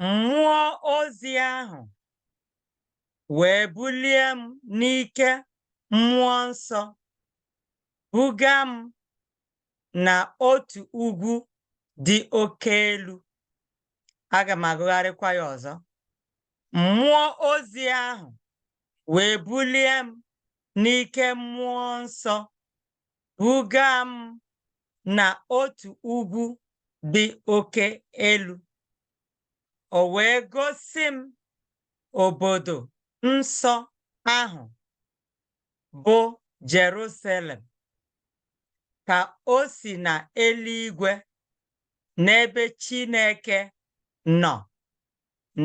Mmụọ ozi ahụ wee bulie m n'ike mmụọ nsọ, buga m na otu ugwu dị oke elu. Aga m agụgharịkwa ya ọzọ. Mmụọ ozi ahụ wee bulie m n'ike mmụọ nsọ, buga m na otu ugwu dị oke elu. O wee gosi m obodo nsọ ahụ bụ Jerusalem ka o si na eluigwe n'ebe Chineke nọ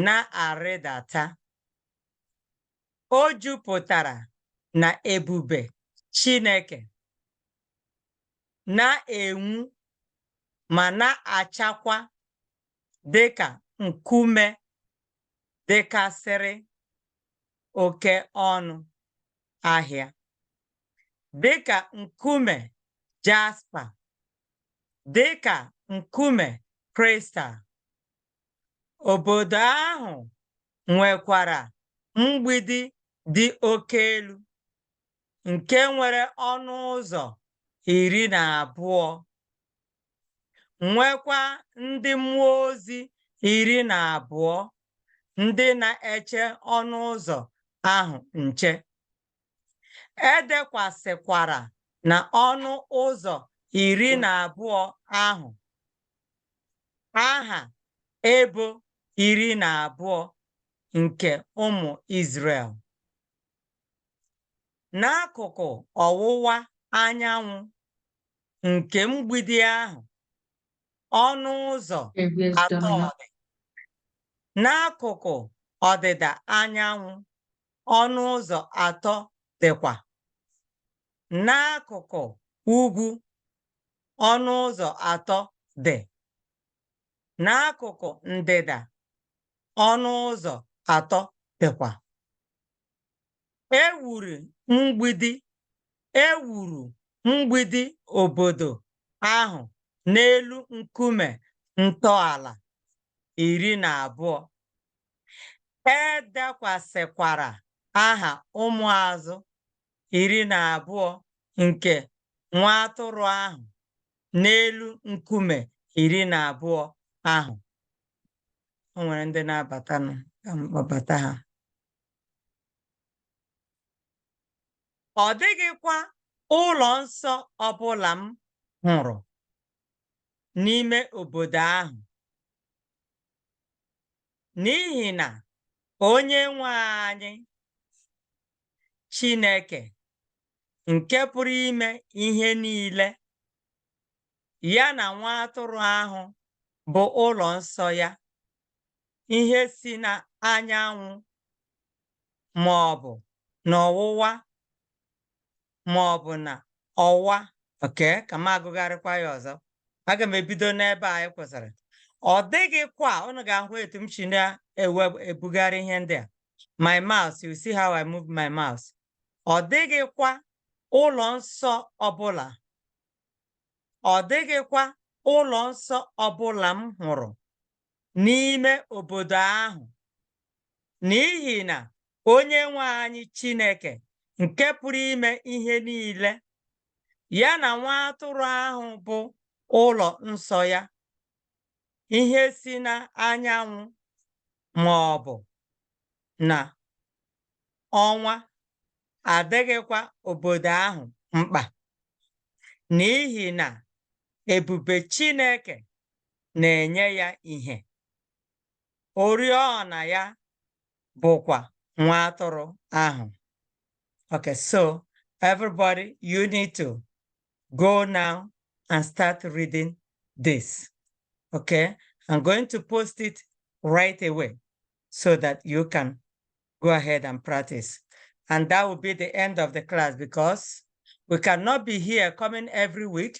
na-arịdata. O jupụtara na ebube Chineke, na-enwu ma na-achakwa dị ka nkume dịkasịrị oke ọnụ ahịa, dị ka nkume jaspa, dị ka nkume kristal, Obodo ahụ nwekwara mgbidi dị oke elu nke nwere ọnụ ụzọ iri na abụọ, nwekwa ndị mmụọ ozi iri na abụọ ndị na-eche ọnụ ụzọ ahụ nche. E dekwasịkwara na ọnụ ụzọ iri na abụọ ahụ aha ebo iri na abụọ nke ụmụ Izrel. N'akụkụ ọwụwa anyanwụ nke mgbidi ahụ, ọnụ ụzọ atọ dị. N'akụkụ ọdịda anyanwụ, ọnụ ụzọ atọ dịkwa n'akụkụ ugwu ọnụ ụzọ atọ dị n'akụkụ ndịda ọnụ ụzọ atọ dịkwa e wuru mgbidi e wuru mgbidi obodo ahụ n'elu nkume ntọala iri na abụọ e dekwasịkwara aha ụmụazụ iri na abụọ nke nwa atụrụ ahụ n'elu nkume iri na abụọ ahụ o nwere ndị na-abatanụ ka m kpọbata ha ọ dịghịkwa ụlọ nsọ ọbụla m hụrụ n'ime obodo ahụ n'ihi na onye nwe anyị Chineke nke pụrụ ime ihe niile ya na nwa atụrụ ahụ bụ ụlọ nsọ ya ihe si n'anyanwụ ma ọ bụ n'ọwụwa ma ọ bụ na ọwa okay ka m agụgharịkwa ya ọzọ aga m ebido n'ebe anyị kwụsịrị ọ dịghịkwa unu ga-ahụ etu m si na-ebugharị ihe ndị a my mouse you see how I move my mouse ọ dịghịkwa ụlọ nsọ ọbụla ọ dịghịkwa ụlọ nsọ ọbụla m hụrụ n'ime obodo ahụ n'ihi na onye nwe anyị Chineke nke pụrụ ime ihe niile ya na nwa atụrụ ahụ bụ ụlọ nsọ ya ihe si na anyanwụ ma ọ bụ na ọnwa adịghịkwa obodo ahụ mkpa n'ihi na ebube Chineke na-enye ya ihe. Oriọna ya bụkwa nwa atụrụ ahụ. Okay, so everybody, you need to go now and start reading this. Okay, I'm going to post it right away so that you can go ahead and practice. And that will be the end of the class because we cannot be here coming every week